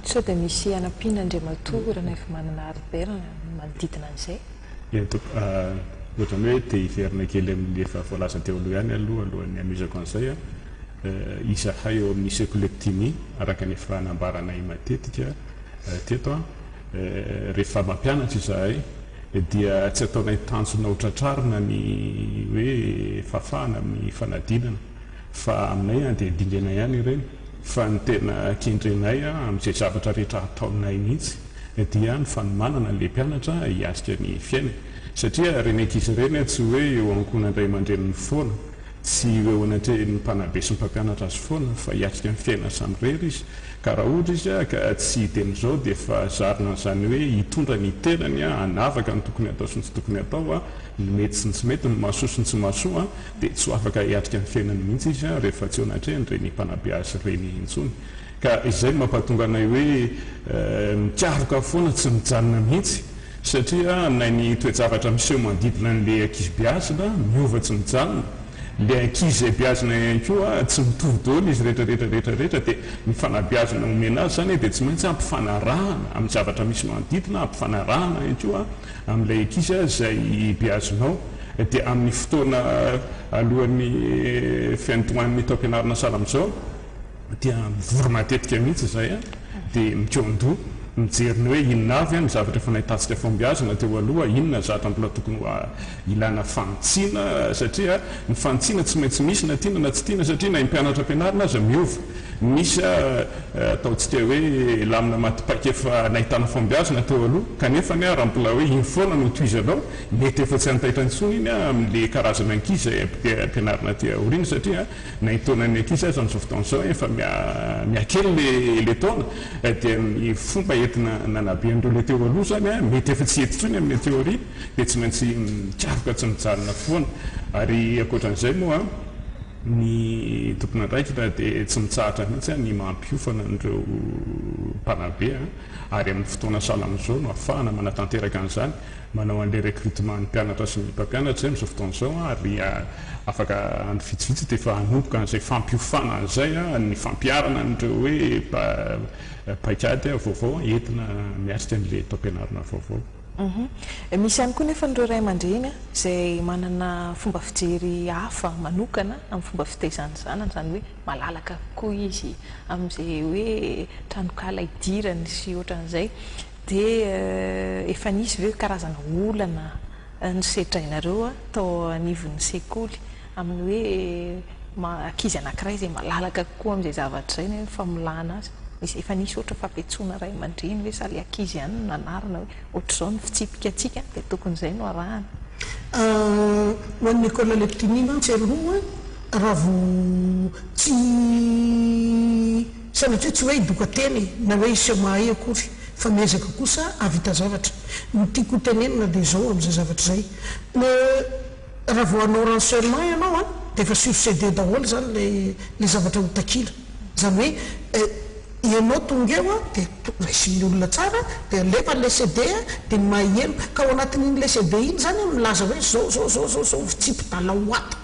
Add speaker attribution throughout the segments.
Speaker 1: Sao dia misy hanampiana Andriamatoa Ranaivomanana Albert manodidina an'izay? Eny tompoko,
Speaker 2: ohatran'ny hoe te hiverina kely amin'ny efa voalaza teo aloha ihany aloha alohan'ny hanohizako an'izay an, izahay ao amin'ny Sekolektini araka ny efa nambaranay matetika teto an, rehefa mampianatra izahay dia tsy ataonay tanjona ho tratrarina ny hoe fahafahana amin'ny fanadinana fa aminay an dia dingenay ihany ireny. Fa ny tena kendrenay amin'izay zavatra rehetra ataonay mihitsy dia ny fanomanana an'ilay mpianatra hiatrika ny fiainany. Satria ren'ankizy ireny tsy hoe eo ankohonan'ny ray aman-dreniny foana, tsy ho eo anatrehin'ny mpanabe sy ny mpampianatra azy foana, fa hiatrika ny fiainany samirery izy. Ka raha ohatra izy ka tsy hiteny izao dia efa zarina an'izany hoe hitondra ny tenany hanavaka ny tokony hatao sy ny tsy tokony hatao, ny mety sy ny tsy mety, ny mahasoa sy ny tsy mahasoa. dia tsy ho afaka hiatrika ny fiainany mihitsy izy an, rehefa tsy eo natrehany ireny mpanabe azy ireny intsony. Ka izay no mampahatonga anay hoe mikaroka foana tsy mijanona mihitsy, satria na ny toe-javatra miseho manodidina an'ilay ankizy beazina miova tsy mijanona, ilay ankizy izay beazina ihany koa tsy mitovy daholo izy rehetra rehetra rehetra rehetra, dia ny fanabeazana omena azy izany dia tsy maintsy ampifanarahana amin'ny zavatra misy manodidina, ampifanarahana ihany koa Amin'ilay ankizy izay beazonao, dia amin'ny fotoana alohan'ny fiandohan'ny taom-pianarana sahala amin'izao, dia mivory matetika mihitsy izahay, dia mikoandoha, mijery ny hoe inona avy ny zavatra efa nahitantsika fahombiazana teo aloha, inona ny zavatra mbola tokony ho ilana fanitsiana, satria ny fanitsiana tsy maintsy misy na tiana na tsy tiana, satria na ny mpianatra ampianarina aza miova. Nisy aho tao tsy te hoe lamina maty paika efa nahitana fahombiazana teo aloha, kanefa anie raha mbola hoe iny foana no tohizanao, mety efa tsy hantaitra intsony iny aho amin'le karazana ankizy izay ampianarina aty aoriana satria na iny taonan'ny ankizy aza amin'izao fotoana izao efa mihakely le taona dia ny fomba entina nanabe an'ireo le teo aloha izany mety efa tsy hety intsony amin'ny aty aoriana dia tsy maintsy mikaroka tsy mijanona foana ary ankoatran'izay moa Ny tompon'andraikitra dia tsy mitsahatra mihitsy ny mampiofana an'ireo mpanabe ary amin'ny fotoana sahala amin'izao no ahafahana manatanteraka an'izany. Manao an'ilay recrutement ny mpianatra sy ny mpampianatra izay amin'izao fotoana izao ary afaka andro vitsivitsy dia efa hanomboka an'izay fampiofana izay ny fampiharana an'ireo hoe paikady vaovao entina miatrika an'ilay taom-pianarana vaovao.
Speaker 1: Misy ihany koa nefa an'ireo ray aman-dreny izay manana fomba fijery hafa manokana amin'ny fomba fitaizany ny zanany, izany hoe malalaka kokoa izy amin'izay hoe tranonkala idirany sy ohatran'izay. Dia efa nisy ve karazana olana nosedrainareo tao anivon'ny sekoly? amin'ny hoe ankizy anankiray izay malalaka kokoa amin'izay zavatra izay na hoe famolana azy. Misy, efa nisy ohatra fampiantsoana ray aman-dreny hoe sa ilay ankizy ihany no nanarina hoe ohatr'izao ny fitsipika antsika dia tokony izay no arahana.
Speaker 3: Ho an'ny école Leptinia mantsy aloha raha vao tsy, sanatria tsy hoe hidoka tena e, na hoe hiseho mahay akory fa miezaka kosa hahavita zavatra. Ny tiako ho tenenina dia izao amin'izay zavatra izay. Raha vao hanao renseignement ianao an, dia efa sur CD daholo izany ilay ilay zavatra ho takiana. Izany hoe ianao tonga eo an, dia to- raisin'ny olona tsara an, dia alefa ilay CD an, dia ny mahiheno, ka ao anatin'iny ilay CD iny izany an, milaza hoe izao izao izao izao izao ny fitsipi-dalao ato.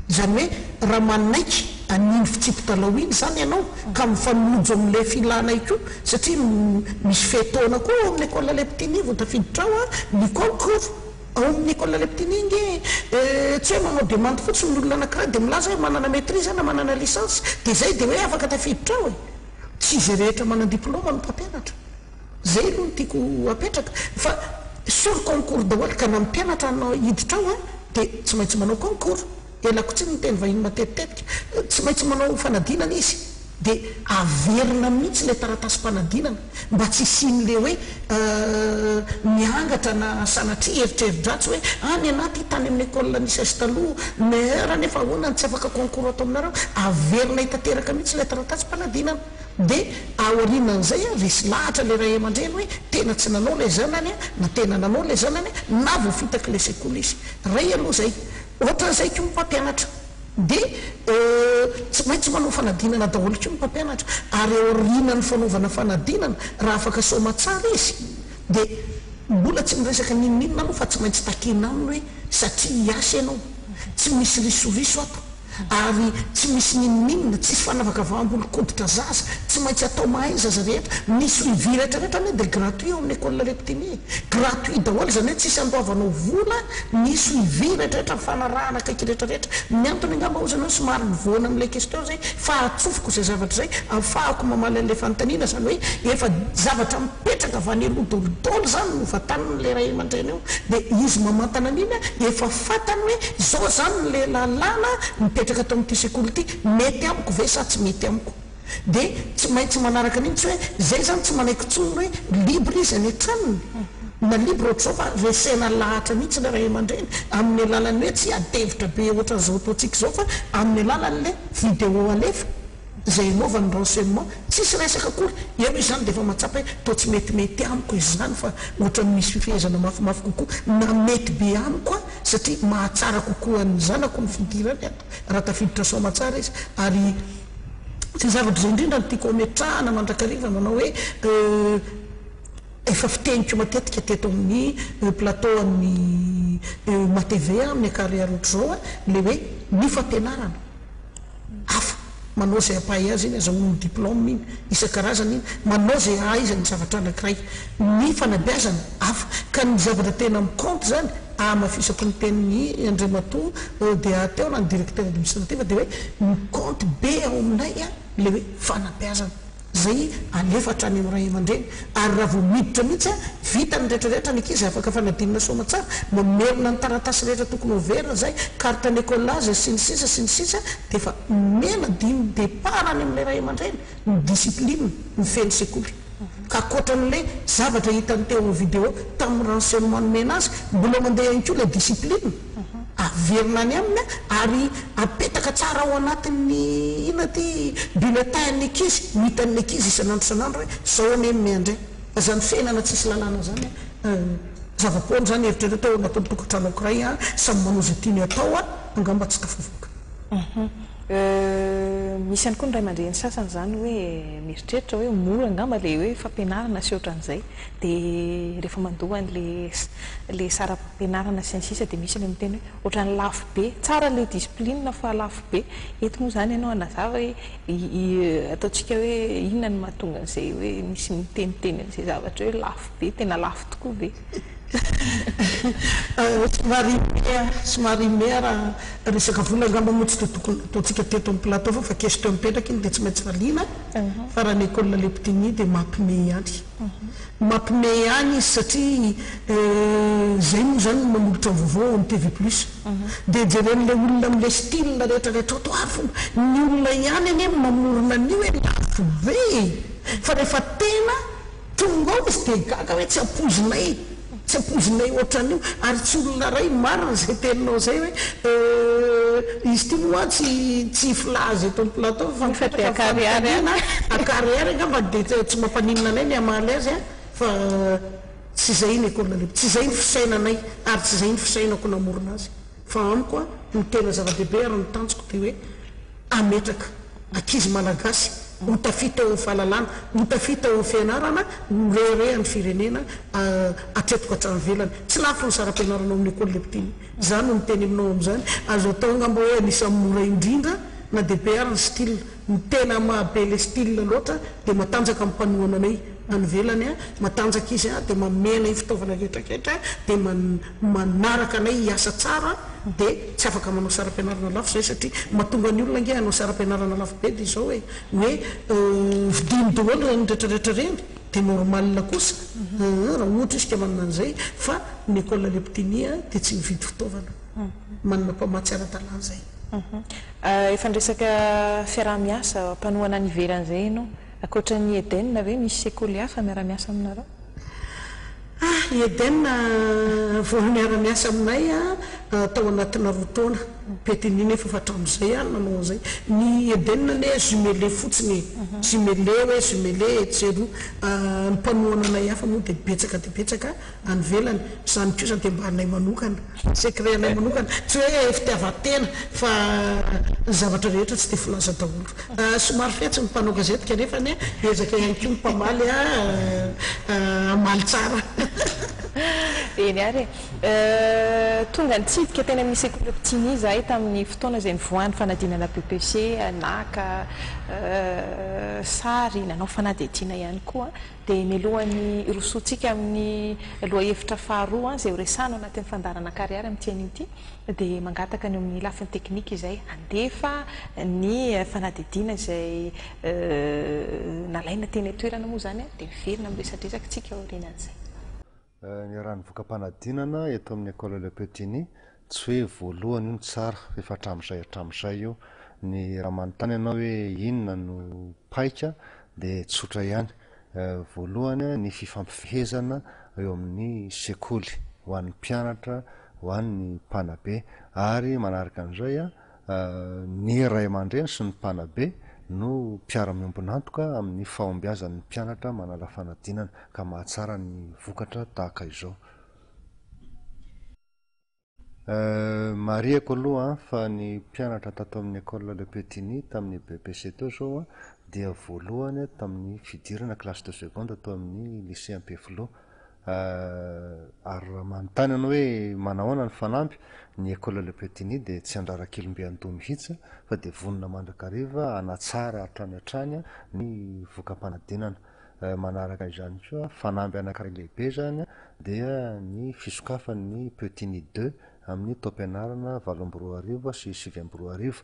Speaker 3: Izany hoe raha manaiky an'iny fitsipi-dalao iny izany ianao, ka mifanojo amin'ilay filanay koa, satria m- misy fe-taona koa ao amin'ny Ecole Leptini vao tafiditra ao an, ny concours. Ao amin'ny école Leptini ange dia tsy hoe manao demande fotsiny ny olona anankiray dia milaza hoe manana maîtrise na manana licence dia izay dia hoe afaka tafiditra ao e! Tsy izay rehetra manan diploma no mpampianatra. Izay aloha no tiako hapetraka fa sur concours daholo ka na mpianatra hanao hiditra ao dia tsy maintsy manao concours. Ela koa tsy niteny vahiny matetitetika. Tsy maintsy manao fanadinana izy dia averina mihitsy ilay taratasim-panadinana mba tsy hisian'ilay hoe miangatra na sanatria eritreri-dratsy hoe ah ny anah ity tany amin'ny école nisesy taloha mère nefa ahoana no tsy afaka concours ato aminareo. Averina hitanteraka mihitsy ilay taratasim-panadinana. Dia aorianan'izay resy lahatra ilay ray aman-dreny hoe tena tsy nanao ilay zanany na tena nanao ilay zanany na voafitak'ilay sekoly izy. Ray aloha izay. Ohatran'izay koa ny mpampianatra. Dia tsy maintsy manao fanadinana daholo koa ny mpampianatra. Ary ao aorianan'ny fanaovana fanadinana, raha afaka saoma tsara izy, dia mbola tsy miresaka n'inon'inona aloha fa tsy maintsy takiana aminy hoe satria hiasa ianao. Tsy misy risoriso ato. Ary tsy misy n'inon'inona, tsisy fanavakavaham-bolon-koditra zaza. Tsy maintsy atao mahay ny zaza rehetra. Ny suivi rehetrarehetra anie dia gratuit ao amin'ny Ecole Leptini e. Gratuit daholo izany hoe tsisy andoavanao vola ny suivi rehetrarehetra, ny fanarahana akaiky rehetrarehetra. Ny antony angamba hoy izany hoe somary nivoana amin'ilay question izay fa ahatsofoko izay zavatra izay ahafahako mamaly an'ilay fanontaniana izany hoe efa zavatra mipetraka avy any aloha daholo daholo izany no vatanin'ilay ray aman-dreny eo dia izy mamantana an'iny efa fantany hoe izao izany ilay lalàna mipetraka ato amin'ity sekoly ity, mety amiko ve sa tsy mety amiko? Dia tsy maintsy manaraka an'iny tsy hoe izay izany tsy manaiky intsony ny hoe libre izy any an-tranony na libre ohatr'izao fa resena lahatra mihitsy ilay ray aman-dreny amin'ny alalan'ny hoe tsy hiadi-hevitra be ohatran'izao ataontsika izao fa amin'ny alalan'ilay video alefa izay anaovany renseignement. Tsisy resaka akory. Ianao izany dia efa mahatsapa hoe toa tsy metimety amiko izany fa ohatran'ny misy fifehezana mafimafy kokoa na mety be amiko aho satria mahatsara kokoa ny zanako ny fidirany ato raha tafiditra soamantsara izy ary Izay zava-bizay indrindra no tiako hametrahana mandrakariva manao hoe euh efa fiteniko matetika teto amin'ny plateau an'ny euh matv amin'ny ankarihary ohatr'izao a, ilay hoe ny fampianarana hafa manao izay ampahay azy iny, azahoany ny diplôme iny isan-karazany iny, manao izay ahaizany ny zavatra anankiray. ny fanabeazana hafa. Ka ny zavatra tena mi-compte izany, ahamafisako ny tenin'i Andriamatoa ODA teo na ny Directeur Administratif dia hoe mi-compte be ao aminay ilay hoe fanabeazana izay alefa hatrany amin'ny ray aman-dreny. Ary raha vao miditra mihitsy, vita ny rehetra rehetra, ny ankizy afaka fanadinana soamantsara, mamerina ny taratasy rehetra tokony hoverina izay, carte n'ecolage sy ny sisa sy ny sisa, dia efa omena dimy départ any amin'ilay ray aman-dreny ny discipline mifehy ny sekoly. ka ankoatra an'ilay zavatra hitany teo amin'ny video tamin'ny renseignement nomena azy, mbola mandeha ihany koa ilay discipline, averina any aminy ary apetaka tsara ao anatin'ny inona ity bulletin an'ny ankizy, ho hitan'ny ankizy isan'andro isan'andro hoe izao anie ny miandry ahy, fa izany fiainana tsisy lalàna izany an, zava-poana izany, eritrereo tao anatin'ny tokantrano ankiray an, samy manao izay tiany atao an, angamba tsy tafavoaka. Euh.
Speaker 1: Misy ihany koa ny ray aman-dreny sasany izany hoe mieritreritra hoe mora angamba ilay hoe fampianarana sy ohatran'izay dia rehefa mandoa an'ilay ilay saram-pianarana sy ny sisa dia misy ilay miteny hoe ohatran'ny lafo be. Tsara ilay discipline fa lafo be. Eto moa izany ianao hanazava hoe ataontsika hoe inona no mahatonga an'izay hoe misy miteniteny an'izay zavatra hoe lafo be, tena lafo tokoa ve? Somary mea, somary mea raha resaka vola angamba moa tsy dia tokony hataontsika teto amin'ny plateau fa fa question mipetraka iny dia tsy maintsy valiana fa raha ny école Leptini dia mampime ihany. Mampime ihany izy satria izay moa izany no manolotra ny vaovao ao amin'ny TV plus. Dia jeren'ilay olona amin'ilay style rehetrarehetra ao toa avy ny olona ihany anie no mamorona an'io e, lafo be e! Fa rehefa tena Tonga ao izy dia gaga hoe tsy ampoizinay, tsy ampoizinay ohatran'io ary tsy olona iray marina izay teninao izay hoe euh, izy ity moa tsy tsy filaza eto amin'ny plateau fa mipetraka amin'ny fanontaniana a, akary ary angambany dia tsy mampaninona anay ny hamaly azy an, fa tsy izay ny école libre, tsy izay ny fisainanay ary tsy izay ny fisainako namorona azy, fa amiko an, ny tena zava-dehibe ary ny tanjoko dia hoe. Hametraka ankizy malagasy ho tafita eo amin'ny fahalalana, ho tafita eo amin'ny fianarana no mireharehan'ny firenena hatreto ka hatrany ivelany. Tsy lafo ny saram-pianarana ao amin'ny Ecole des Petits. Izaho no miteny aminao amin'izany. Azo atao angamba hoe anisan'ny mora indrindra na DPR ny style. Ny tena maha be ilay style loatra dia matanjaka ny mpanohana anay. any ivelany a, matanjaka izy a, dia manome anay fitaovana rehetrarehetra, dia man manaraka anay hiasa tsara, dia tsy afaka manao saram-pianarana lafo izahay satria mahatonga ny olona ange hanao saram-pianarana lafo be dia izao e, hoe vidiany daholo ireny rehetrarehetra ireny, dia normal kosa aa raha ohatra izy ka manana an'izay, fa ny école Le Petit Nid a dia tsy mividy fitaovana, manana mpamatsy ara-dalàna izay. Efa niresaka fiaraha-miasa, mpanohana any ivelany izay ianao. Ankoatra ny Eden ve misy sekoly hafa miara-miasa aminareo? Ah, i Eden
Speaker 3: vao niara-miasa aminay tao anatina roa taona. Bethany nefa efa hatramin'izay ah nanao an'izay. Ny Eden anie jumelé fotsiny e. Jumelé hoe jumelé etsy sy eroa. Ny mpanohana anay hafa moa dia betsaka dia betsaka. any ivelany, izany kosa dia mba anay manokana, secret anay manokana, tsy hoe fitiavan-tena fa ny zavatra rehetra tsy dia filaza daholo, somary fetsy ny mpanao gazety kanefa anie ezaka ihany koa ny mpamaly hamaly tsara.
Speaker 1: Eny ary e! Tonga nitsidika teny amin'ny sekoly Optimi izahay tamin'ny fotoana izay nivoahan'ny fanadinana BEPC, naka sary, nanao fanadihadiana ihany koa. dia melohan'ny hirosoantsika amin'ny lohahevitra faharoa izay horesahana ao anatin'ny fandaharana Kariary amin'ity anio ity, dia mangataka ny eo amin'ny lafiny teknika izay handefa ny fanadihadiana izay nalaina teny an-toerana moa izany dia miverina amin'ny resadresaka antsika aorianan'izay.
Speaker 4: Niarahan'ny voka-panadinana eto amin'ny Ecole Le Petit Ny, tsy hoe voalohany io no tsara, fa efa hatramin'izay hatramin'izay io. Ny raha manontany anao hoe inona no paika dia tsotra ihany. Voalohany ny fifampifehezana eo amin'ny sekoly ho an'ny mpianatra, ho an'ny mpanabe. Ary manaraka an'izay Ny ray aman-dreny sy ny mpanabe no mpiara-miombon'antoka amin'ny fahombiazan'ny mpianatra manala fanadinana ka mahatsara ny vokatra tahaka izao. Marihiko aloha fa ny mpianatra tato amin'ny Ecole Le Petit-Ny tamin'ny BEPC teo izao dia voalohany tamin'ny fidirana classe de seconde tao amin'ny Lycée Ampefiloha. Ah, ary raha manontany ianao hoe manahoana ny fanampy, ny Ecole Le Petit Nid dia tsy handrara kelimbe andoha mihitsy fa dia vonona mandrakariva hanatsara hatrany hatrany ny voka-panadinana. Eh, manaraka izany koa, fanamby anankiray lehibe izany dia ny fisokafan'ny Petit Nid deux amin'ny taom-pianarana valo amby roa arivo sy sivy amby roa arivo.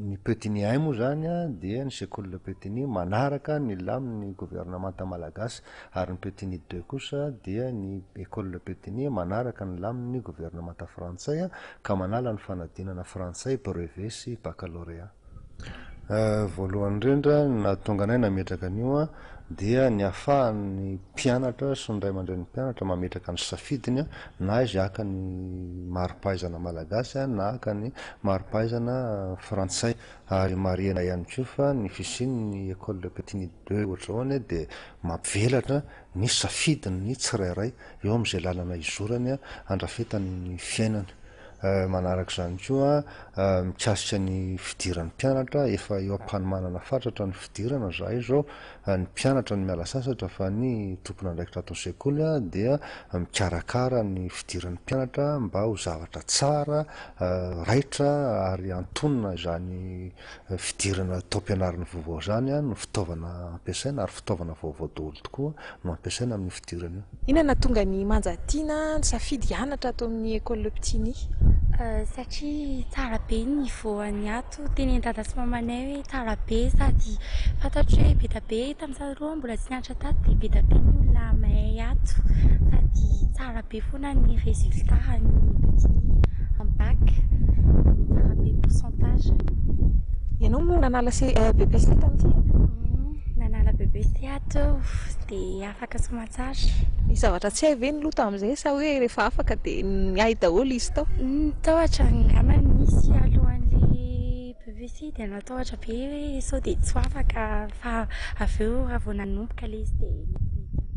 Speaker 4: Ny Petini I moa izany dia ny Sekoly Le Petini manaraka ny lamin'ny governemanta malagasy ary ny Petini ii kosa dia ny Ecole Le Petini manaraka ny lamin'ny governemanta frantsay ka manala ny fanadinana frantsay, brevet sy baccalauréat. Voalohany indrindra ny nahatonga anay nametraka an'io dia ny ahafahan'ny mpianatra sy ny ray aman-drenin'ny mpianatra mametraka ny safidiny na izay haka ny mari-pahaizana malagasy na haka ny mari-pahaizana frantsay. Ary marihina ihany koa fa ny fisian'ny école de petit niveau deux ohatr'izao anie dia mampivelatra ny safidin'ny tsirairay eo amin'izay lalana izorany handrafetany ny fiainany. Manaraka izany koa, mikasika ny fidiran'ny mpianatra, efa eo am-panomanana fatratra ny fidirana izahay izao, ny mpianatra no miala sasatra fa ny tompon'andraikitra ato an-tsekoly dia mikarakara ny fidiran'ny mpianatra mba ho zavatra tsara, raitra ary antonona izany fidirana taom-pianarana vaovao izany no fitaovana ampiasaina ary fitaovana vaovao daholo tokoa no ampiasaina amin'io fidirana io. Inona no nahatonga an'i
Speaker 1: Manja Tiana nisafidy hianatra ato amin'ny Ecole Le Petit Nihy? Satria
Speaker 5: tsara be ny niveau an'ny ato, tenenin-dada sy mamanay hoe tsara be sady fantatro hoe be dia be tamin'izaho roa mbola tsy nianatra. Nieritreritra tato dia be dia be ny olona mahay ato sady tsara be foana ny résultat an'ny petit am bac, tsara be ny pourcentage.
Speaker 1: Ianao moa nanala BEPC tamin'ity e? Nanala
Speaker 5: BEPC ato aho dia afaka soamantsara. Nisy zavatra tsy
Speaker 1: hay ve ny loha tamin'izay sa hoe rehefa afaka dia hay daholo izy tao? Tao hatrany
Speaker 5: angamba nisy alohan'ilay. Vitsivitsy izy dia natahotra be hoe sao dia tsy ho afaka fa avy eo raha vao nanomboka ilay izy dia nety nety ihany.